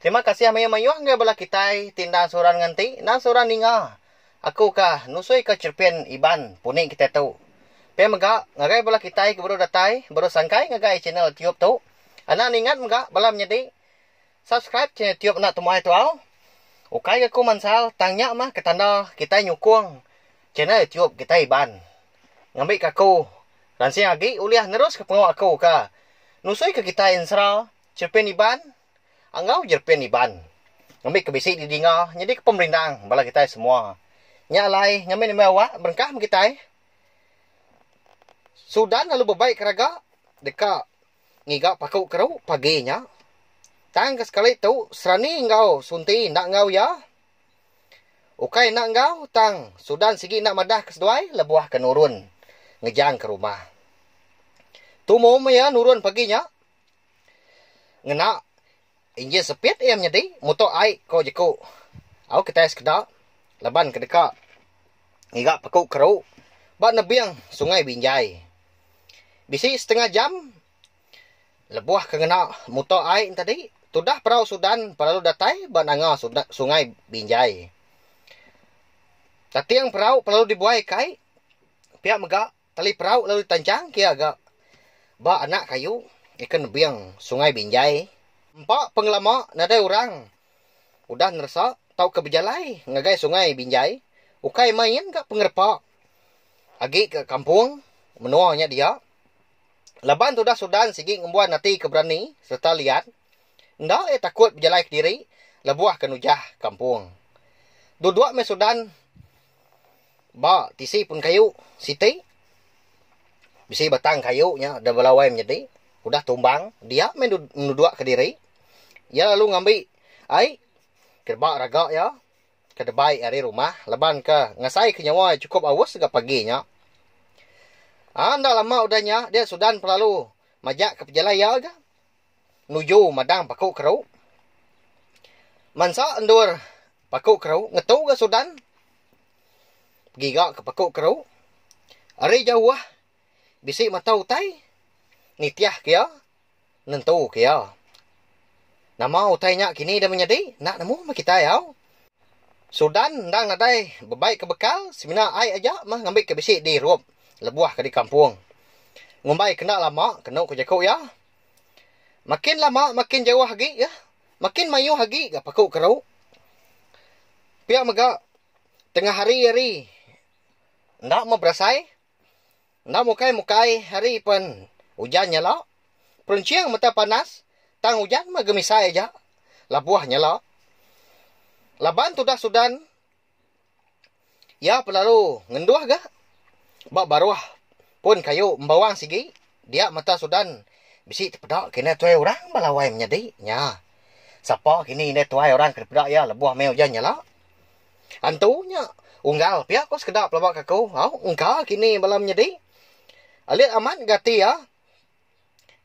Terima kasih mayuh-mayuh enggai bala kitai ti enda seorang nganti enda seorang ninga aku ka nusui ka cherpin Iban puni kitai tu. Pia mega ngagai bala kitai ke baru datai baru sangkai ngagai channel YouTube tu enda ningat mega bala menyadi subscribe channel YouTube enda temuai tau. Ukai ga aku mansal tang nya mah ke tanda kitai nyukung channel YouTube kitai Iban ngambi ka aku ransing agi ulih nerus ka pengawa aku ka nusui ka kitai ensera. Cherpen Iban enggau Jerpen Iban ngambika bisi didinga nyadika pemerindang bala kitai semua. Nya alai ngambi-ngambi awak berengkah meh kitai. Sudan lalu bebai keraga deka ngiga paku keru pagi nya. Tang ke sekali tu Serani enggau Sunti enda enggau iya. Ukai enda enggau tang Sudan sigi enda madah ke seduai lebuh ke nurun ngejang ke rumah. Tumu meh iya nurun pagi nya. Ngena injin sepit iya menyedi muto ai ko jeku. Au kitai sekeda laban ke deka ngiga paku keru ba nebing Sungai Binjai. Bisi setengah jam lebuh ke ngena muto ai nya tadi tudah perau Sudan belalu datai ba nanga Sungai Binjai. Tating perau belalu dibuai kai pia mega Tali perau lalu ditanchang kia ga ba anak kayu ikan nebing sungai Binjai. Empa pengelama nadai orang udah neresa tauka bejalai ngagai sungai Binjai ukai main ga pengerepa agi ga kampung menoa nya dia. Laban tudah Sudan sigi ngembuan ati ke berani sereta liat enda ia takut bejalai kediri lebuh ke nujah kampung. Dua-dua meh Sudan. Ba tisi pun kayu siti, bisi batang kayu nya da belawai menyedi, udah tumbang dia meh nuduk kediri, iya lalu ngambi ai ke ba raga iya ke debai ari rumah laban ke ngasai ke nyawa iya sukup aus ga pagi nya. Enda lama udah nya dia sudan pelalu majak ke pejalai iya ga. nuju madang paku keru. Mansa endur paku keru ngetu ga Sudan giga ke paku keru. Ari jauh bisi mata utai nitih ke iya nentu ke iya. Nama utai nya kini enda menyadi enda nemu meh kitai au. Sudan endang nadai bebai ke bekal semina ai aja meh ngambika bisi dirup lebuh ke di kampung. Ngumbai ke enda lama kenu ku jaku iya. Makin lama makin jauh agi iya. Makin mayuh agi ga paku keru. Pia mega tengah hari ari enda me berasai enda mukai mukai hari pen ujan nyala peruncing mata panas tang ujan me gemisai aja labuh nyala laban tudah sudan Iya pelalu ngenduh ga ba baruh pun kayu embawang sigi dia mata sudan bisi tepeda kena tuai orang bala wai menyadi nya sapa kini indai tuai orang ke peda iya lebuh meh ujan nyala antu nya unggal pia ko sekeda pelaba ke aku au engka kini bala menyadi alit amat gati iya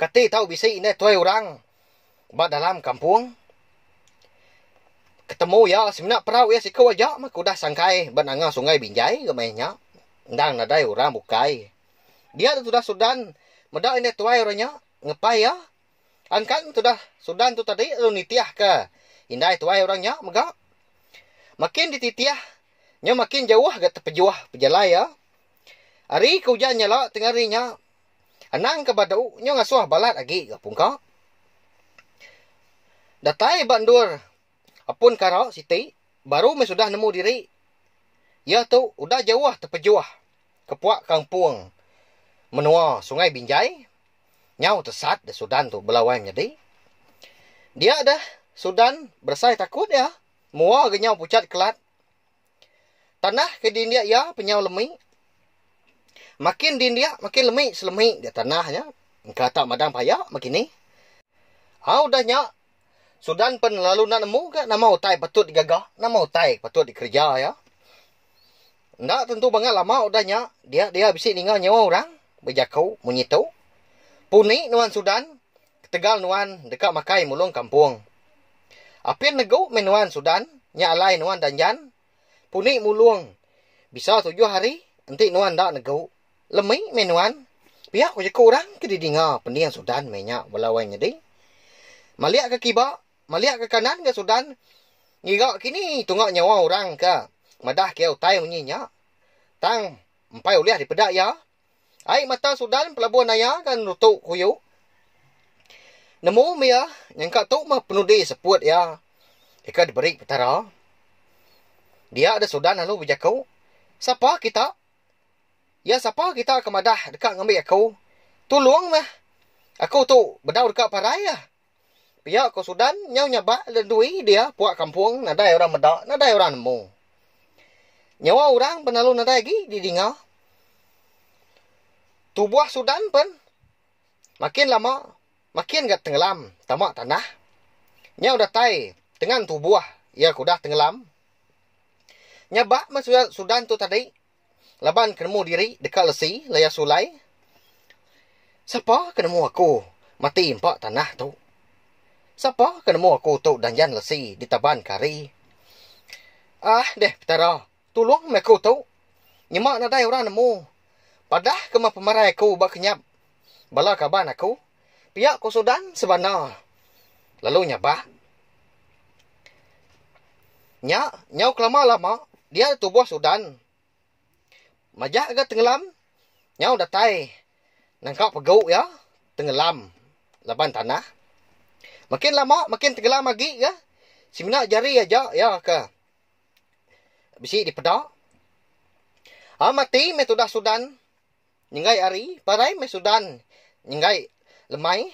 Kati tau bisi indai tuai orang ba dalam kampung. Ketemu iya semina perau iya siku aja meh ke udah sangkai ba nanga sungai Binjai ga maya nya. Endang nadai orang bukai. Dia tu tudah Sudan meda indai tuai orang nya ngepai iya. Angkan tudah Sudan tu tadi lalu nitihka indai tuai orang nya mega. Makin dititih nya makin jauh ga tepejuh pejalai iya. Ari ke ujan nyala tengah hari nya Anang ke ba tu nyau ngasuh balat agi ga pungka. Datai ba endur Apun Kara siti baru meh sudah nemu diri. Iya tu udah jauh tepejuh kepuak kampung menua Sungai Binjai nyau tesat deh Sudan tu bela wai menyadi. Dia deh Sudan beresai takut iya mua ga nyau pucat kelat. Tanah ke dindik iya penyau lemi. Makin dindik makin lemi selemi dia tanah nya. Engka tak madang paya meh kini. Au udah nya, Sudan pen lalu enda nemu ga nama utai patut digaga, nama utai ke patut dikereja iya. Enda tentu bangat lama udah nya dia dia bisi ninga nyawa orang bejaku munyi tu. Puni nuan Sudan Ketegal nuan deka makai mulung kampung. Apin negu meh nuan Sudan nya alai nuan danjan puni mulung bisa tujuh hari enti nuan enda negu lemi meh nuan. Pia ku jeku orang ke didinga pending Sudan meh nya bala wang nyadi. Malik ke kiba, malik ke kanan ga Sudan ngiga kini tunga nyawa orang ka madah kiai utai munyi nya tang empai ulih dipeda iya. Ai mata Sudan pelabuh naya ga nerutu kuyu. Nemu mia nyangka tu meh penudi seput iya deka diberi Petara. Dia deh Sudan lalu bejaku, Sapa kita? Ya sapa kita ke madah deka ngambi aku? Tulung meh! Aku tu bedau deka parai. Pia ko Sudan nyau nyabak dui dia puak kampung nadai orang meda nadai orang nemu. Nyawa orang pen lalu nadai agi di dinga. Tubuh Sudan pen makin lama makin ga tengelam tama tanah. Nyau datai tengan tubuh iya ke udah tengelam. Nyabak men Sudan tu tadi Laban ke nemu diri deka lesi laya sulai, Sapa ke nemu aku mati empa tanah tu? Sapa ke nemu aku tu danjan lesi ditaban ke hari? Ah deh Petara, tulung meh aku tu. Nyema nadai orang nemu. Padah kema pemarai aku ba kenyap bala kaban aku Pia ku Sudan sebana lalu nyabak. Nya nyau kelama lama dia da tubuh Sudan. Majak ga tengelam nyau datai nangka pegu iya tengelam laban tanah. Makin lama makin tengelam agi ga semina jari aja iya ke bisi dipeda. A mati meh tudah Sudan Nyenggai ari parai meh sudan nyenggai lemai.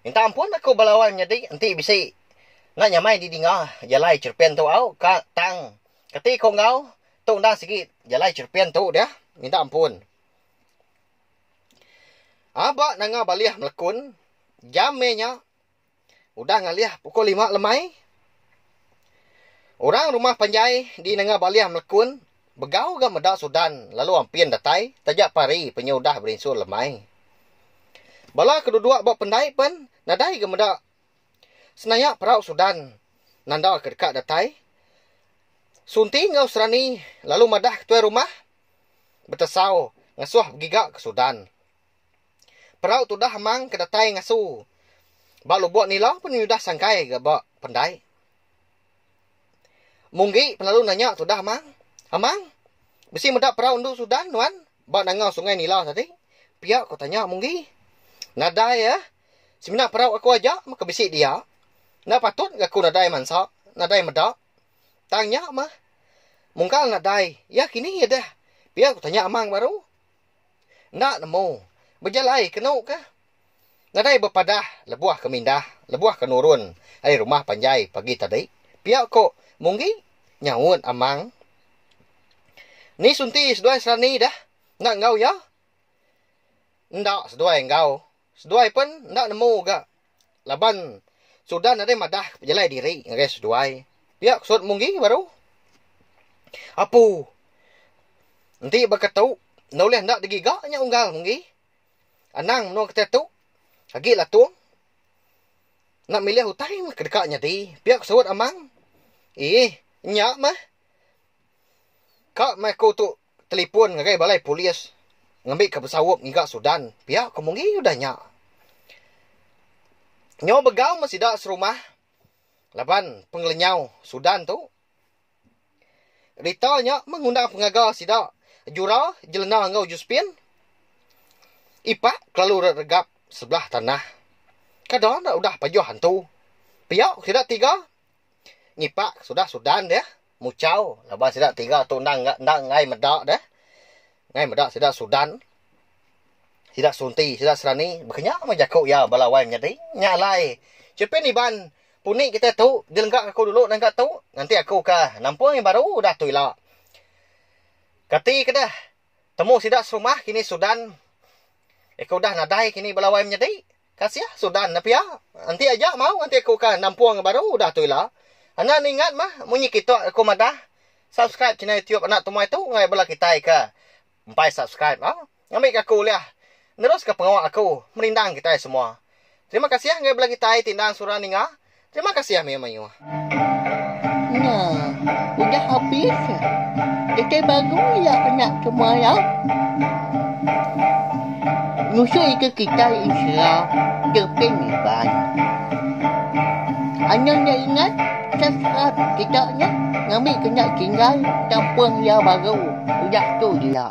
Minta ampun aku bala wai menyadi enti bisi enda nyamai didinga jalai cherepin tu au ka tang kati ko enggau tu enda sigi jalai cherepin tu deh minta ampun. Aba nanga balih melekun jam meh nya. Udah ngalih pukul lima lemai, orang rumah panjai di Nanga Balih Melekun begau ga meda Sudan lalu ampin datai taja pari penyu udah berinsur lemai. Bala ke duduk ba pendai pen nadai ga meda senayak perau Sudan nanda ke deka datai. Sunti enggau Serani lalu madah ke tuai rumah betesau ngesuh begiga ke Sudan. Perau tudah amang ke datai ngasu ba lubok nila pun nyudah sangkai ga ba pendai. Munggi pengalu nanya tudah amang, Amang, bisi meda perau endu sudan nuan ba nanga sungai nila tadi? Pia ko tanya Munggi. Nadai eh, semina perau aku aja meh ke bisi dia. Enda patut ga aku nadai mansa, nadai meda. Tang nya meh. Mungkal nadai, iya kini deh? Pia ko tanya amang baru. Enda nemu. Bejalai kenu ka. Nadai bepadah lebuh ke mindah, lebuh ke nurun ari rumah panjai pagi tadi. Pia ko Munggi nyaut Amang. Ni Sunti seduai Serani dah enda enggau iya? Enda seduai enggau. Seduai pen enda nemu ga laban Sudan nadai madah pejalai diri ngagai seduai. Pia ke Sut Munggi baru. Apu. Enti ba ketu enda ulih enda digiga nya unggal Munggi. Anang menua kitai tu agi latung enda milih utai meh ke deka nyadi. Pia ke Sut Amang. Eeh nya meh. Ka meh aku tu. telipon ngagai balai polis ngambika besaup ngiga Sudan pia ko mungi udah nya nyau begau meh sida serumah laban pengelenyau Sudan tu rita nya meh ngundang pengaga sida jura jelena enggau Josephine ipak kelalu rat regap sebelah tanah kada enda udah pajoh antu pia ko sida tiga. ngipak sudah sudan deh muchau laban sida tiga tu endang endang enggai meda deh enggai meda sida sudan sida sunti sida serani baka nya meh jaku iya bala wai menyadi nya alai chupin iban puni kita tu dilengga aku dulu nengka tu nanti aku ka nampung yang baru udah tu ila kati ke deh temu sida serumah kini sudan eko udah nadai kini bala wai menyadi. Kasih Sudan ne pia. Enti aja mau nganti aku ka nampung baru udah tu ila. Enda ningat mah munyi kitok aku madah subscribe channel youtube anak tumai tu ngai bala kitai ka empai subscribe au ngambi ka aku ulih nerus ka pengawa aku merindang kitai semua. Terima kasih ngai bala kitai ti endang sura ninga. Terima kasih Amir mayuh. Nya, udah habis nya. Dekai bagu iya nya ke maya. Nusu ika kitai insya deping iban. Anang nya ingat ke serat kita nya ngambi ke nya tinggal kampung iya baru udah tu dia.